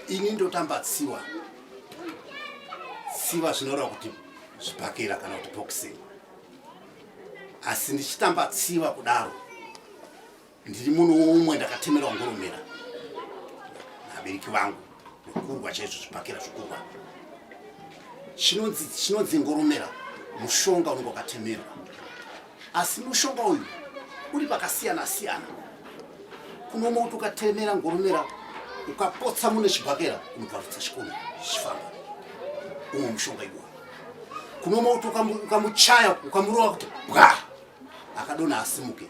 ini ndotamba tsiwa tsiwa zvinoreva kuti zvibhakera kana kuti boxing asi ndichitamba tsiwa kudaro ndiri muno umwe ndakatemerwa ngoromera nabereki vangu nekurwa chaizvo zvibhakera zvokurwa chinonzi ngoromera mushonga unenge wakatemerwa asi mushonga uyu uri pakasiyana siyana kuno mauti ukatemera ngoromera ukapotsa mune chibhakera unobvarutsa chikono chifamba umwe mushonga iwoyo kuno mauti ukamuchaya ukamurova kuti bwa akadona asimuke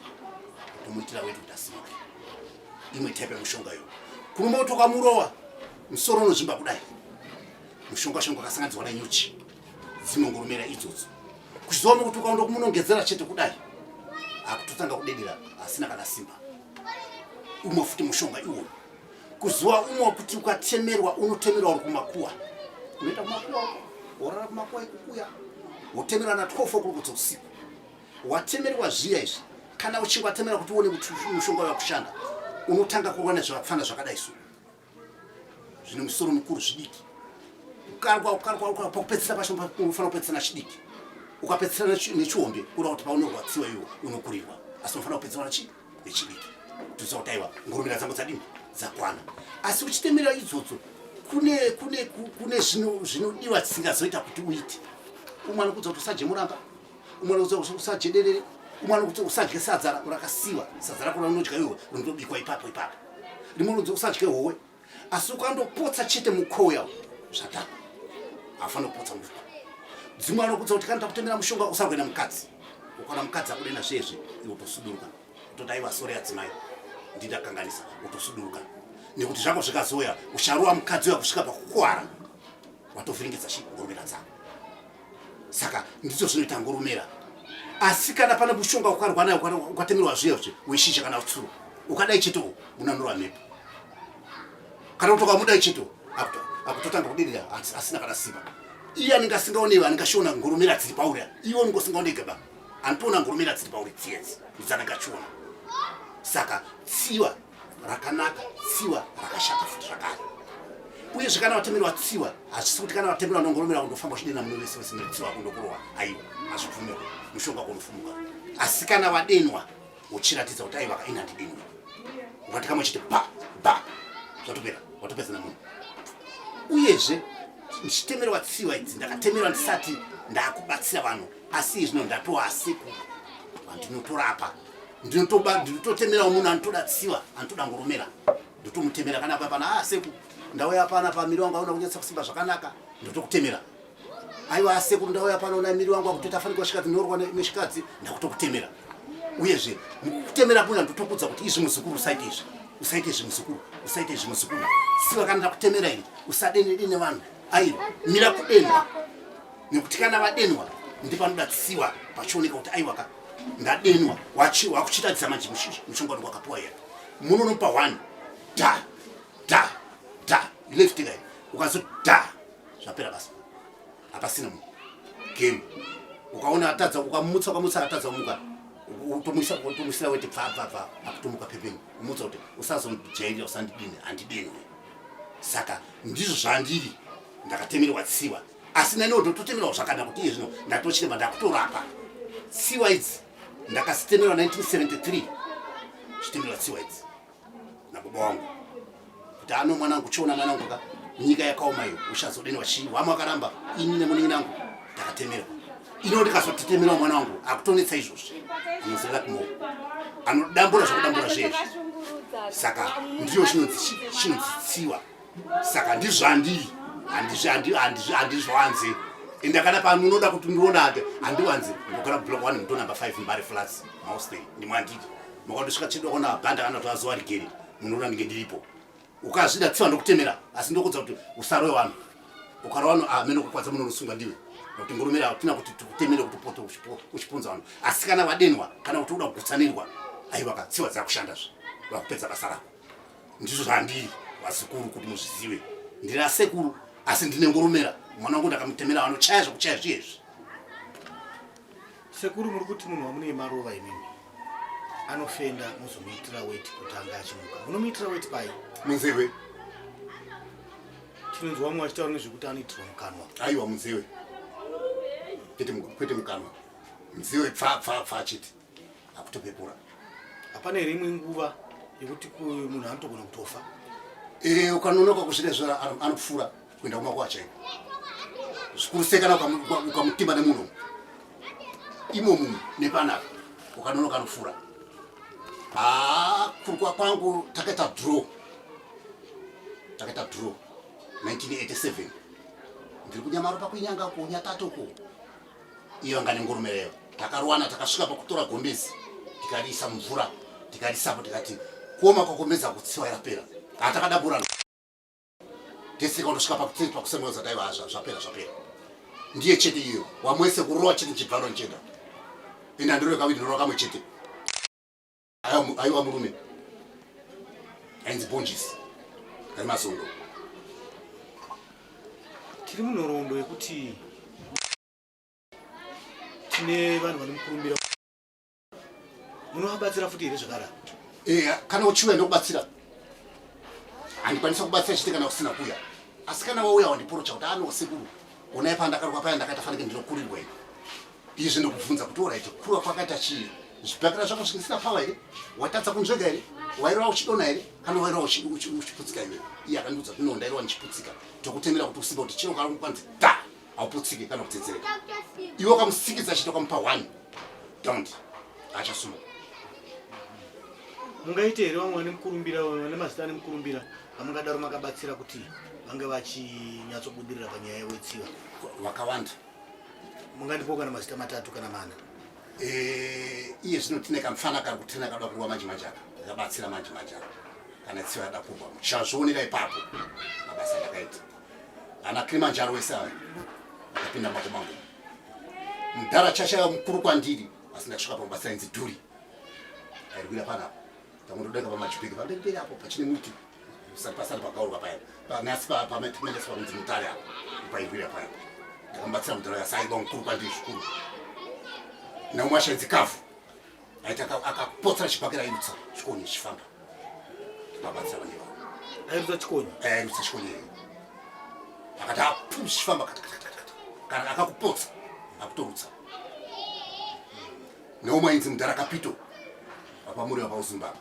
tomuitira wedu kuti asimuke imwe tepe mushonga iwoyo kuno mauti ukamurova musoro unozvimba kudai mushonga shonga akasanganidzwa nenyuchi dzinongomera idzodzo kuchizoona kuti ukaenda kumunongedzera chete kudai akutotanga kudedera asina kana simba umwe futi mushonga iwo kuzuva umwe kuti ukatemerwa unotemerwa uri kumakuwa unoita kumakuwa worara kumakuwa ikukuya wotemerwa na 12 okurukudza usiku watemerwa zviya izvi kana uchinge watemera kuti uone kuti mushonga wakushanda unotanga kuona zvakafana zvakadai so zvine musoro mukuru zvidiki ukarwa ukarwa ukarwa pakupedzisira pacho unofanira kupedzisana chidiki ukapedzisana nechihombe kureva kuti paunorwadziwa iwo unokurirwa asi unofanira kupedzisana chi nechidiki tinoziva kuti aiwa ngurumira dzangu dzadini dzakwana asi uchitemera idzodzo kune kune kune zvinodiwa dzisingazoita kuti uite umwana kudza kuti usajemuramba umwe anokuudza kuti usadye derere umwe anokuti usadye sadza rakasiwa sadza rakona unodya iwe rinotobikwa ipapo ipapo rimwe unoudza usadye howe asi ukandopotsa chete mukowo yawo zvatapa haufanira kupotsa mufa dzimwe anokuudza kuti kana takutemera mushonga usakuenda mukadzi ukaona mukadzi akudena zveyezve iwe utosuduruka utodai vasore adzimai ndindakanganisa utosuduruka nekuti zvako zvikazoya ucharowa mukadzi uya kusvika pakukuwara watovhiringidza shi ngoromera dzako saka ndizvo zvinoita ngurumera asi kana pane mushonga ukarwa nayo ukatemerwa zviya zve weshisha kana utsuru ukadai cheto unanurwa mhepo kana kuti ukamudai cheto akutotanga kudirira asina kana simba iye anenge asingaonewe anenge ashiona ngurumera dziri pauri iwe unenge usingaoneke ba anotoona ngurumera dziri pauri tsiedzi idzanenge achiona saka tsiwa rakanaka tsiwa rakashata futi zvakare uyezve kana vatemerwa tsiwa hazvisi kuti kana vatemerwa nongoromera kundofamba uchidena muno vese vese netsiwa kundokurowa aiwa hazvibvumirwa mushonga kunofumuka asi kana vadenwa uchiratidza kuti aiva kaina ndidenwa ukati kamwe chiti ba ba zvatopera watopedzana munhu uyezve ndichitemerwa tsiwa idzi ndakatemerwa ndisati ndakubatsira vanhu asi izvino ndatoasekuru vandinotorapa ndinotoba ndinototemerawo munhu anotoda tsiva anotoda ngoromera ndotomutemera kana papana a ah, seku ndauya pana pamiri wangu aona kunyatsa kusimba zvakanaka ndotokutemera aiwa ah, sekuru ndauya pano na miri wangu akutoita afanika kusvika tinorowa neshikadzi ndakutokutemera uyezve mukutemera kuna ndotokudza kuti izvi muzukuru usaite izvi usaite izvi muzukuru usaite izvi muzukuru siwa kana ndakutemera ini usadene dene vanhu airo mira kudenwa nekuti kana vadenwa ndipanoda tsiwa pachioneka kuti aiwaka ndadenwa wachi wakuchiratidza manje mushonga wangu wakapiwa here munonopa one da da da left guy ukazo da zvapera basa hapasina munhu game ukaona atadza ukamutsa ukamutsa atadza kumuka utomuisa utomuisira wete bva bva bva akutomuka pepeni umutsa kuti usazondijairira usandidini handidini saka ndizvo zvandiri ndakatemerwa tsiwa asi neniwo ndototemerwa zvakanaka kuti iye zvino ndatochiremba ndakutorapa tsiwa idzi ndakasitemerwa 1973 zvitemerwa tsiwa idzi nababa wangu kuti ano mwana wangu chiona mwana wangu ka nyika yakaoma iyo uchazodenwa chii wamwe akaramba ini nemuningi nangu ndakatemerwa ino ndikazotetemerwa mwana wangu akutonetsa izvozvi anozerera kumo anodambura zvakudambura zvezvi saka ndiyo chinonzi chinonzi tsiwa saka ndizvandii handizvanzi ende kana pano unoda kuti ndiona ake handiwanzi ndogara block one muto number five mbari flats mostay ndimwandidi makandosvika chedu akaona mabhanda kana kuti azuva rigere munoona ndinge ndiripo ukazvida tsiva ndokutemera asi ndokuudza kuti usarowe vanhu ukara vanhu amene ah, ukakwadza munonosungwa ndiwe nokuti ngurumira hatina kuti tikutemere kuti upote uchipunza vanhu asi kana vadenwa kana kuti uda kugutsanirwa aiwa ka tsiva dzakushandazve vakupedza basa rako ndizvo zvandiri vazukuru kuti muzvizive ndiri asekuru asi ndine ngoromera mwana wangu ndakamutemera vanochaya zvokuchaya zviyezvi sekuru muri kuti munhu wamunei maruva imimi anofenda muzomuitira weti kuti anga achimuka munomuitira weti pai munzewe tinonzwa vamwe vachitaura nezvekuti anoitirwa mukanwa aiwa munzewe kwete mukanwa munzewe pfapfapfa chete akutopepura hapana here imwe nguva yekuti munhu anotogona kutofa eh, ukanonoka kuzvine zvo anopfuura kuenda kumakuwa chaiko zvikuru sei kana ukamutima nemunhu imo munhu nepanapa ukanonoka anopfuura haa kurukwa kwangu takaita draw takaita draw 1987 ndiri kunyamaro pakuinyanga kunyatatoku iyo anga nengurume reyo takaruwana takasvika pakutora gombezi tikariisa mumvura tikarisapo tikati kuoma kwakombeza kutsiwa yapera kaa takadaburana tesika unosvika pakutii pakusemweza daiva hazva zvapera zvapera ndiye chete iyo wamwese kurova chete chibvaro nchenda enda ndiro yekaviri ndiro kamwe chete aiwa murume ainzi bonjisi ari masondo tiri munhoroondo yekuti tine vanhu vanomukurumbira munovabatsira futi here zvakara eya eh, kana uchiuya ndokubatsira handikwanisa kubatsira chete kana usina kuya asi kana wauya wandiporocha kuti anosekuru onai pandakaruka paya ndakaita fanike ndinokurirwa ii izvi ndokubvunza kuti oraiti kurwa kwakaita chii zvibhakira zvako zvisingisina pawa here watadza kunzvega here wairova uchidona here kana wairova uchiputsika iwe iye akandiudza kuti nondairova ndichiputsika tokutemera kuti usimba kuti chino kana kukwanzi da hauputsike kana kutsedzereka iwe ukamusikidza chito kamupa one don't achasuma mungaite here vamwe vane mukurumbira vane mazita ane mukurumbira vamungadaro makabatsira kuti vange vachinyatsobudirira panyaya yewetsiva vakawanda mungandipo kana mazita matatu kana mana eh, iye zvino tine kamfana kari kutena kada kurwa manje manje aka ndakabatsira manje manje aka kana tsiva yada kubva muchazvionera ipapo mabasa ndakaita ana kilimanjaro wese ava akapinda mako mangu mudhara chashaya mukuru kwandiri asi ndakasvika pamabasa inzi dhuri airwira panapa tangu ndodeka pamajipeki pamberi peri apo pachine muti pasati pakaurwa paya panasi pamaitimendeswa kunzi mutare apa pairwira paya ndakamubatsira mudhara yasa aiba mukuru kwandiri zvikuru naumwe ashaidzi kafu aita akapotsera chibhakera airutsa chikonye chifamba ndikabatsira vane vavo airutsa chikonye eh, airutsa chikonye akati apu chichifamba kana akakupotsa akutorutsa neumwe ainzi mudhara kapito apamuri vapauzimbabwe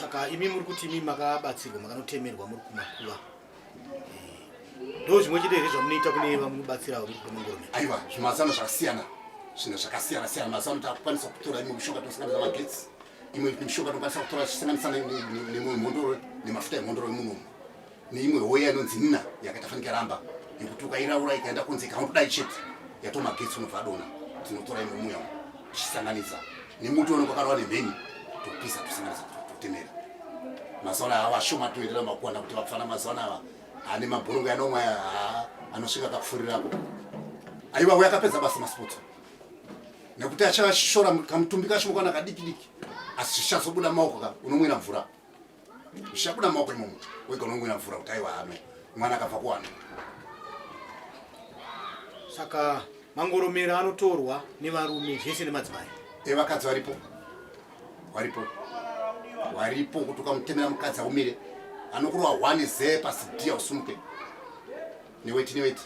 saka imi muri kuti imi makabatsirwa makanotemerwa muri kumakuva eh, ndo zvimwe chete here zvamunoita kune vamunobatsira muri kumamurume aiwa zvimazano zvakasiyana zvinhu zvakasiyana siyana mazano takukwanisa kutora imwe mishonga tinosanganisa magetsi imwe mishonga tinokwanisa kutora tichisanganisa nemhondo nemafuta emhondoro emunhu umu neimwe hoye yanonzi nina yakatafanika ramba yekuti ukairaura ikaenda kunze ikaundodai chete yatomagetsi unobva adona tinotora imwe muya tichisanganisa nemuti unenge wakarova nemheni topisa tosanganisa totemera mazaona ava vashoma toendera makuwana kuti vapfana mazaona ava ane mabhurungu anomwa anosvika kakufurirapo aiwa uya akapedza basa masports nekuti achashora kamutumbi kashoma kana kadikidiki asi zvichazobuda maoko ka unomwira mvura zvichabuda mumaoko imomo wega unongwina mvura kuti aiwa hano mwana akabva kuwana saka mangoromero anotorwa nevarume zvese nemadzimai evakadzi eh, varipo varipo varipo kuti ukamutemera mukadzi aumire anokurwa one ze pasidia usumuke neweti neweti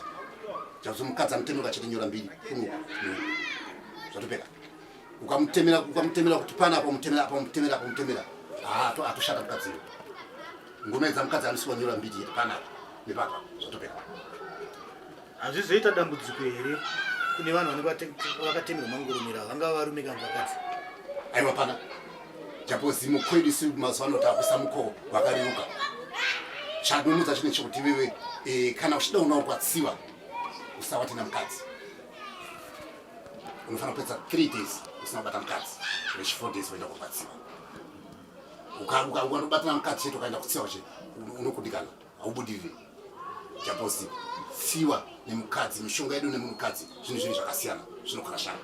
zvakuti mukadzi amutemera ukachete nyora mbiri kuno zvatopera ukamutemera ukamutemera kuti pana apa mutemera apa mutemera apa mutemera ah to atoshata mukadzi ngoma idza mukadzi anosiwa nyora mbiti yeti pana apa nepapa zvatopera hazvizoita dambudziko here kune vanhu vanenge vakatemerwa mangurumira vangava varume kana vakadzi aiwa pana japo zimo kwedu si mazuva ano takuisa mukoho wakareruka chadonodza chine chekuti iwewe eh, kana uchida unawo kwatsiwa usawati namukadzi unofanira kupedza 3 days usina kubata mukadzi rechi 4 days uenda kurwadziwa ukanobatana mukadzi chete ukaenda kutsiwa che unokudikana haubudirire japosi tsiwa nemukadzi mishonga yedu nemukadzi zvinhu zvinhu zvakasiyana zvinokarashana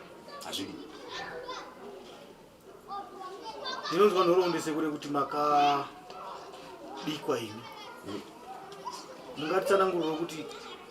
hazvidi ndinonzwa nhorondese kure kuti makabikwa imi hmm. mungatsananguriro kuti